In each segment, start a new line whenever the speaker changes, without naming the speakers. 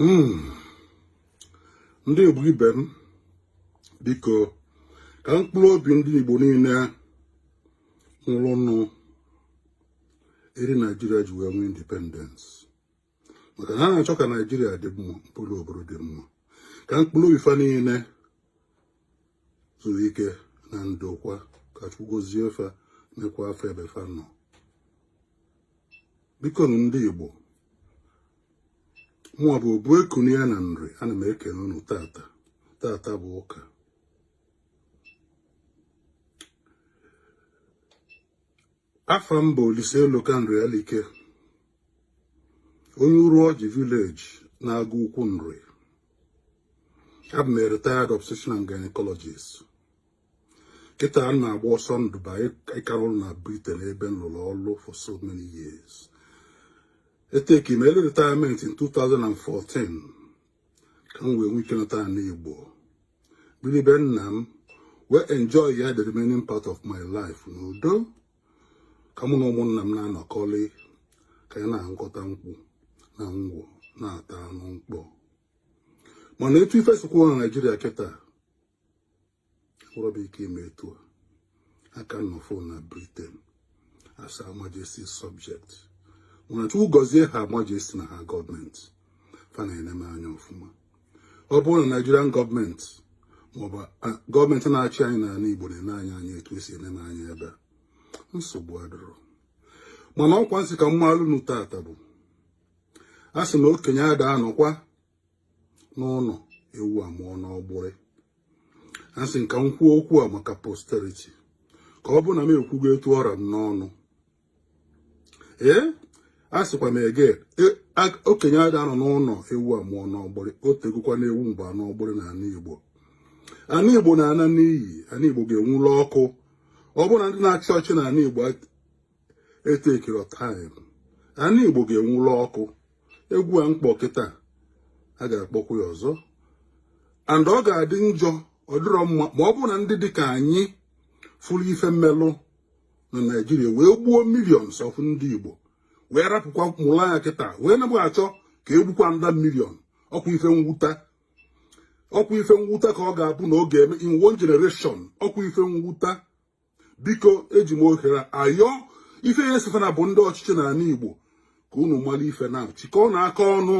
Hmm. ndị Igbo ibe m biko ka mkpụrụ obi ndị Igbo niile nwụrụnụ eri Naijiria ji wee nwee independence maka na ha na-achọ ka naijiria dị mma mkpụrụ obodo dị mma ka mkpụrụ obi fa niile zuru ike na ndokwa ka chukwu gozie fa nekwaa fa ebe fa nọ bikonụ ndị igbo mụwa bụ obu ekunu ya na nri ana m ekene unu tata tata bụ ụka afa m bụ Olise Eloka Nrialike onye Uruọjị village na Agụukwu Nri abụ m retired obstetrician and gynecologist kịta a na-agba ọsọ ndụ by ịka nọrọ na Britain ebe m lụrụ ọrụ for so many years eteki m early retirement in 2014 ka m wee nwee ike nata ana Igbo biri be nna m wee enjoy ya the remaining part of my life n'udo ka mụ na ụmụnna m na-anọkọrị ka anyị na-aṅụkọta nkwụ na ngwọ na-ata anụ mkpọ mana etu ife si kwụ na Naịjirịa kịta nwerọ m ike ime etu a aka m nọfụ na briten as her majesty's subject mana chukwu gọzie her majesty na her gọọmenti fa na-ene m anya ọfụma ọ bụrụ na naijirian gọọmenti maọbụ gọọmenti na-achị anyị n'ala igbo na-ene anyị anya etu e si ene m anya ebe a nsogbu adịrọ mana ọkwa m sị ka m maalụ unu tata bụ a sị na okenye ada anọkwa n'ụlọ ewu amụọ n'ọgbụrị asị m ka m kwuo okwu a maka posterity ka ọ bụ na m ekwugo etu ọ ra m n'ọnụ ee asịkwa m ege e, okenye ada anọ n'ụlọ ewu amụọ n'ọgbụrị o tegokwa n'ewu mụbe n'ọgbụrị na ana igbo ana igbo na-ana n'iyi ana igbo ga-enwula ọkụ ọ bụrụ na ndị na-achị ọchị na ana igbo etekirọ time ana igbo ga-enwụla ọkụ egwu a mkpọ kịta a ga-akpọkwu ya ọzọ and ọ ga-adị njọ ọ dịrọ mma ma ọ bụ na ndị dịka anyị fụrụ ife melụ na naijiria wee gbuo millions of ndị igbo wee rapụkwa mụrụ anya kịta wee naba achọ ka e gbukwa another million ọkwa ife mwuta ọkwa ife mwuta ka ọ ga-abụ na ọ ga-eme in one generation ọkwa ife mwuta biko eji m ohere a ayọ ife ya esefana bụ ndị ọchịchị n'ala Igbo ka unu mara ife na-eme chịkọọ nụ aka ọnụ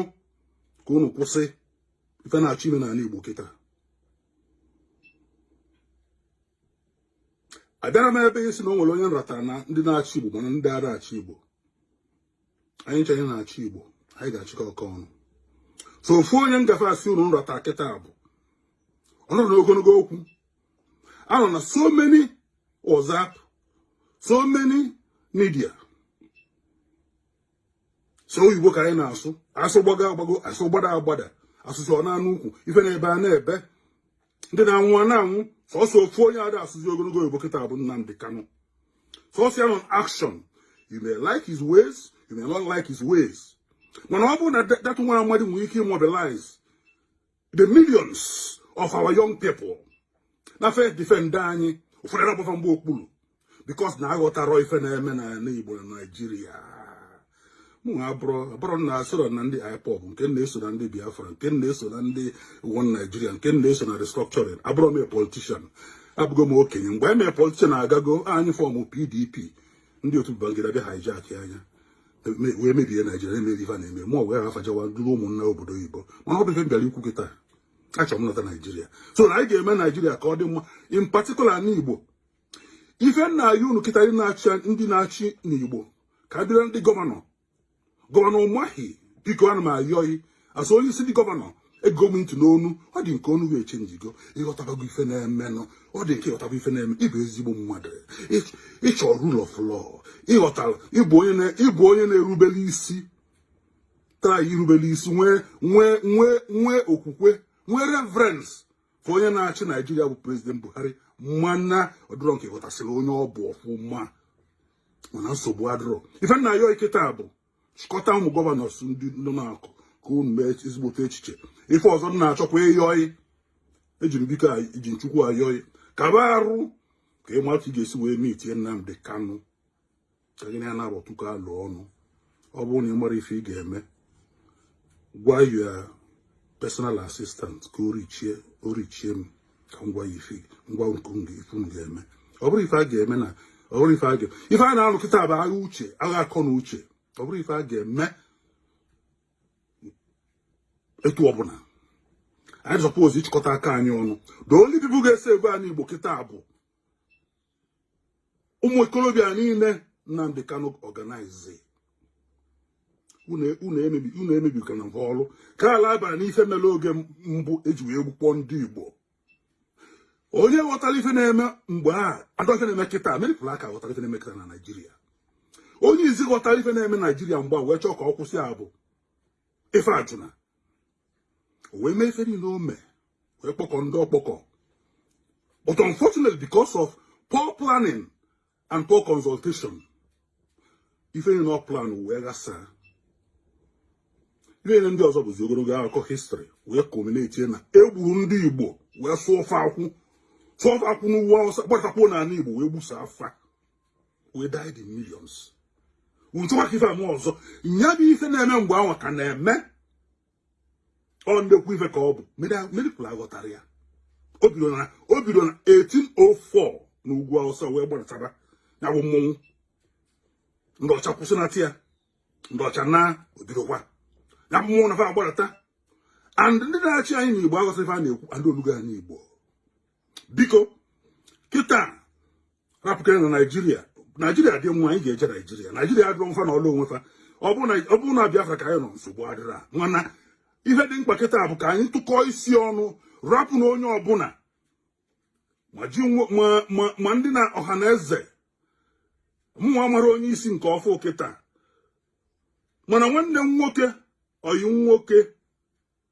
ka unu kwụsị ife na-achọ ime n'ala Igbo kịta abịarọ m ebe a ịsị na o nwere onye m rọtara na ndị na-achị Igbo ma na ndị arọ achị Igbo anyị ncha na-achị igbo anyị ga-achịkọ aka ọnụ sọ ofu onye m ga-asị unu m rọta kịta bụ ọ nọrọ n'ogologo okwu a nọ na so many WhatsApp so many media sọ oyibo ka anyị na-asụ asụ gbago agbago asụ gbada agbada asụcha ọ naa n'okwu ife na-ebe a na-ebe ndị na-anwụ a na-anwụ sọsọ ofu onye ada asụzi ogologo oyibo kịta bụ Nnamdi Kanu sọsọ ya nọ action you may like his ways you may not like his ways mana ọ bụrụ na that nwa amadị nwere ike imobilize the millions of our young people na fa edefend anyị ụfọdụ na-agba fa mgba okpuru because na aghọtarọ ife na-eme n'ala Igbo na Naijiria mụ abụrụ na esoro na ndị IPOB nke na-eso na ndị Biafra nke na-eso na ndị One Nigeria nke na-eso na restructuring abụrọ m politishan abụgo m okenye mgbe anyị mere politishan agago anyị fọmụ PDP ndị otu Babangida bịa hijackịa ya wee mebie Naijiria na-emebi ife na-eme ma ọ wee ha fajawa duru ụmụ m naa obodo oyibo mana ọ bụrọ ife m bịara ikwu kịta achọrọ m nọta Naijiria so na anyị ga-eme Naijiria ka ọ dị mma in particular n'Igbo ife m na-ayọ unu kịta ndị na-achị ndị na-achị n'Igbo ka m bịara ndị gọvanọ gọvanọ Umahi biko ana m ayọ gị as onye isi ndị gọvanọ egego m ntị n'ọnụ ọ dị m ka ọnụ gị echenjigo ị ghọtabago ife na-emenụ ọ dị m ka ị ghọtaba ife na-eme ị bụ ezigbo mmadụ ị chọ rule of law ị ghọtara ị bụ onye na-erubere isi tara irubere isi nwee nwee nwee nwee okwukwe nwee reverence for onye na-achị naijiria bụ prezident buhari mana ọ dịrọ m ka ị ghọtasịrị onye ọ bụ ọfụma mana nsogbu adịrọ ife m na-ayọ gị kịta bụ chịkọta ụmụ gọvanọs ndị nọ n'akụ ka unu mee ezigbote echiche ife ọzọ m na-achọkwa ịyọ gị eji m biko eji m Chukwu ayọ gị kaba arụ ka ị mata etu ị ga-esi wee meetie Nnamdi Kanu ka gị na ya nabọ tụkọọ alo ọnụ ọ bụrụ na ị marọ ife ị ga-eme gwa your personal assistant ka o reachie o reachie m ka m gwa gị ife m gwa unu ife unu ga-eme ọ bụrọ ife a ga-eme na ọ bụrọ ife a ga ife a na-alụ kịta bụ agha uche agha akọ na uche ọ bụrọ ife a ga-eme etu ọbụla anyị sọpọzi ịchịkọta aka anyị ọnụ the only people ga-esave anị igbo kịta bụ ụmụ okorobịa niile Nnamdi Kanu organize unu emebikana ha ọrụ ka ala abara n'ife mere oge mbụ eji wee gbukpọ ndị Igbo onye ghọtara ife na-eme mgbe a and ife na-eme kịta meripụrụ aka ghọtara ife na-eme kịta na Naịjirịa onye izizi ghọtara ife na-eme Naịjirịa mgbe a wee chọọ ka ọ kwụsịa bụ Ifeajuna o wee mee ife niile o mee wee kpọkọ ndị ọ kpọkọ but unfortunately because of poor planning and poor consultation ife niile ọ plan wee ghasaa ife niile ndị ọzọ bụzi ogologo akụkọ history wee culminate na e gburu ndị igbo wee sụọ fa akwụ sụọ fa akwụ n'ugwu awụsa gbatakwuo n'ala igbo wee gbusịa fa we died in millions ntụwa ka ife a mee ọzọ nya bụ ife na-eme mgbe ahụ ka na-eme ọ ndekwu ife ka ọ bụ ma ọ dị ka unu aghọtarọ ya o bido na 1804 na ugwu awụsa wee gbadataba ya bụ mmọnwụ ndị ọcha kwụsịnata ya ndị ọcha naa o bidokwa ya bụ mmọnwụ na fa agbadata and ndị na-achị anyị n'igbo aghọtarọ ife a na-ekwu and o lugo anyị igbo biko kịta rapụkene naijiria naijiria dịwa anyị ga-eje naijiria naijiria adịrọ fa nọlụ onwe fa ọ bụrụ na biafra ka anyị nọ nsogbu adịrọ mana ihe dị mkpa kịta bụ ka anyị tụkọọ isi ọnụ rapụnụ onye ọbụla ma ndị nọ Ọhanaeze mụnwa amarọ onye isi nke ọfụụ kịta mana nwanne m nwoke ọyị nwoke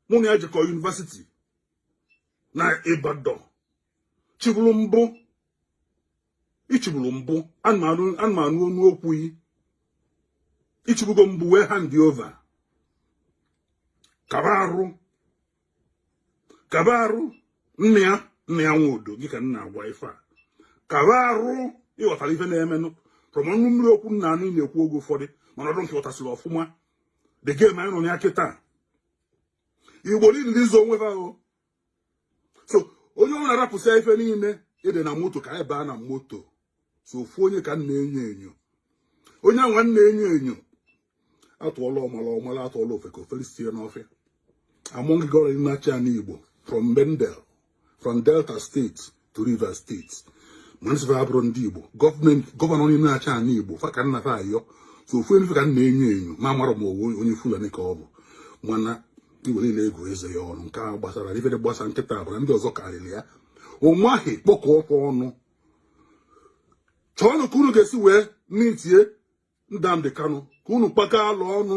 mụ na ya jikọ yunivesiti na Ibadan chịburu mbụ ị chịburu mbụ ana m anụ ọnụ okwu yị ị chịbugo mbụ wee hand over kaba arụ kaba arụ Nnia Nnia Nwodo gị ka m na-agwa ife a kaba arụ ịghọtara ife na-emenụ from ọnụ mmiri okwu m na-anụ ị na-ekwu oge ụfọdụ mana ọ dị ka ị ghọtasịrị ọfụma the game anyị nọ na ya kịta igbo niile ndị zo onwe ha o so onye ọ na-arapụsị ife niile ịdị na moto ka anyị baa na moto sọ ofu onye ka m na-enyo enyo onye anwa m na-enyo enyo a tụọlọ ọmala ọ mala a tụọlọ ofeke o fere isi n'ọfịa among gọvanọ na-achị ana igbo from bendel from delta state to rivers state ma ndị sị fa abụrọ ndị igbo gọọmenti gọvanọ onye na-achị ala igbo fa ka m na-ayọ sọ ofu n'ime fa ka m na-enyo enyo ma amarọ m ọ bụ onye fulani ka ọ bụ mana igbo niile ego eze ya ọnụ nke a gbasara ifere gbasa nkịta abụra ndị ọzọ karịrị ya Umahi kpọkọ onwe unu chọọnụ ka unu ga-esi wee meetie Nnamdi Kanu ka unu kpakọ alo ọnụ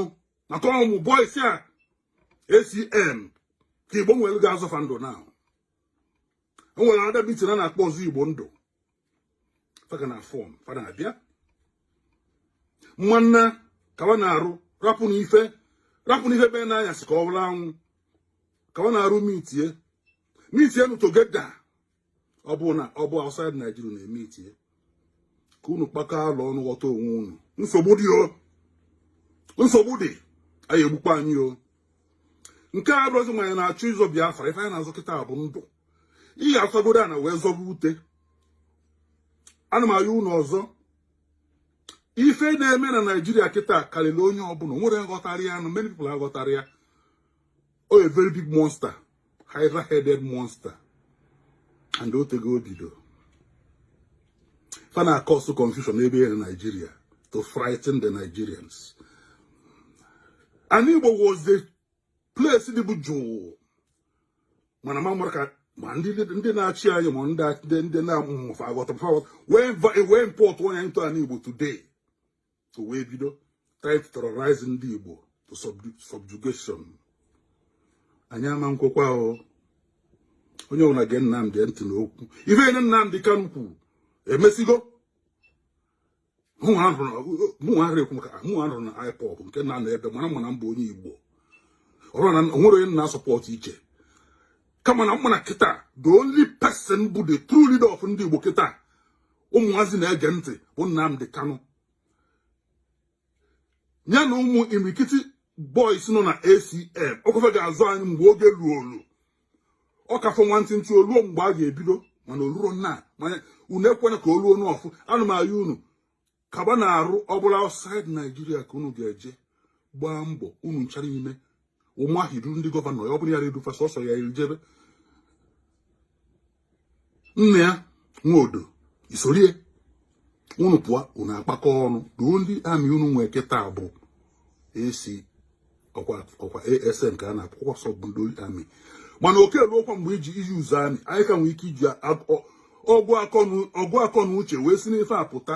maka ụmụ boys a ESN ka igbo nwere ga-azọ fa ndụ na o nwere another meeting a na-akpọ ọzọ igbo ndụ fa ka na-afọm fa na-abịa mana kawa na-arụ rapụnụ ife rapụnụ ife be n'anyasị ka ọ bụrụ anwụ kawa na-arụ meetie meetienụ together ọ bụ na ọ bụ outside Nigeria unu emeetie ka unu kpakọ alo ọnụ ghọta onwe unu nsogbu dị o nsogbu dị a ya-egbukpọ anyị o nke a abụrọzi ma anyị na-achọ ịzọ Biafra ife anyị na-azọ kịta bụ ndụ ị ga-azọgodu ana wee zọba ute ana m ayọ unu ọzọ ife na-eme na Naijiria kịta karịrị onye ọbụla nwere nghọtara ya na many people aghọtarọ ya o a very big monster hydra headed monster and o tego o bido fa na-acause confusion ebe a na Nigeria to frighten the Nigerians ani Igbo was the place dịbu jụụ mana ma mara ka ma ndị na-achị anyị ma ndị na-amụmụfa aghọta wee importuo ya into ani Igbo today o wee bido to terrorize ndị Igbo to subjugation anyị ama nkwekwa o onye ọbụla gee Nnamdi ntị n'okwu ife nine Nnamdi Kanu kwuru emesigo mụnwa ahụrụ ekwu maka mụnwa anọrọ na IPOB nke na-anọ ebe mara m ma na m bụ onye Igbo ọrụ na onwere onye na-asupport iche kama na m ma na kịta the only person bụ the true leader of ndị Igbo kịta ụmụazị na-ege ntị bụ Nnamdi Kanu ya na ụmụ imirikiti boys nọ na ESN ọ kwa fa ga-azọ anyị mgbe oge luolu ọ ka fọ nwantịntị oluo mgbe a ga-ebido mana olurọ ana m ayọ unu ekwena ka oluo n'ọfụ ana m ayọ unu kaba na-arụ ọ bụrụ outside Naijiria ka unu ga-eje gbaa mbọ unu nchara ime Umahi duru ndị gọvanọ ya ọ bụrụ ya redufa sọsọ ya ejebe nna ya nwaodo isorie unu pụọ unu akpakọ ọnụ ruo ndị amị unu nwee kịta bụ esi ọkwa ESN ka a na-akpọ ọsọ bụ ndị amị mana oke ruokwa mgbe e ji use amị anyị ka nwee ike iji ọgụ akọ na uche wee si n'ife a pụta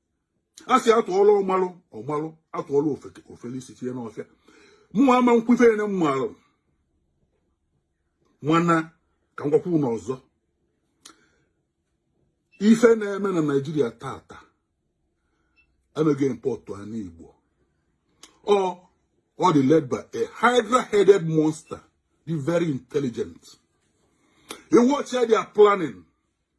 a sị atụọlụ ọmalụ ọmalụ atụọlụ ofeke isi tinye n'ọfịa mụnwa ama nkwu ife nine m maara mana ka m gwakwa unu ọzọ ife na-eme na naijiria tata emeghị mkpọtụ ani igbo ọ ọ dị led by a hydra-headed monster dị very intelligent ị watchịa their planning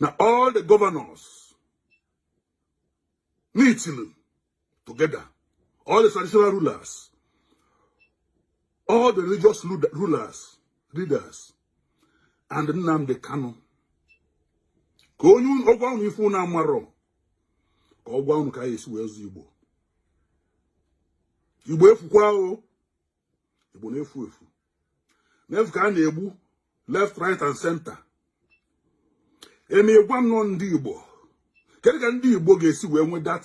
na all the governors meeting together all the traditional rulers all the religious rulers leaders and Nnamdi Kanu ka ọ gwa unu ife unu amarọ ka ọ gwa unu ka anyị esi wee zọọ Igbo Igbo efukwa o igbo na-efu efu na-efu ka a na-egbu left right and center eme gwa nọ ndị igbo kedu ka ndị igbo ga-esi wee nwee that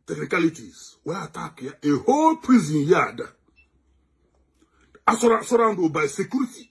technicalities wee attackịa a whole prison yard a surround by security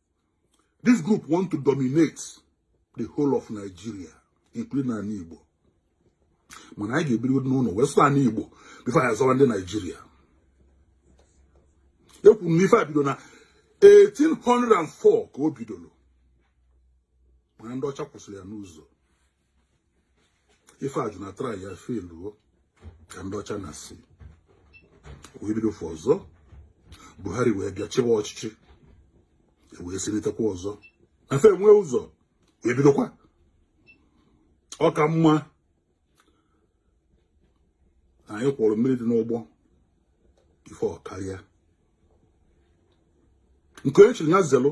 This group want to dominate the whole of Nigeria, including Ani Igbo. Mana anyị ga-ebiri n'ụnọ wee zọọ Ani Igbo before anyị azọwa ndị Nigeria. E kwuru na ife a bido na 1804 ka o bidolu. Mana ndị ọcha kwụsịrị ya n'ụzọ. Ifeajuna tryịa failụọ ka ndị ọcha nasị wee bido fụ ọzọ buhari wee bịa chịwa ọchịchị e wee silitekwa ọzọ fa enwee ụzọ wee bidokwa ọ ka mma anyị kwọrọ mmiri dị n'ụgbọ before ọ karịa nke onye chiri ya zelụ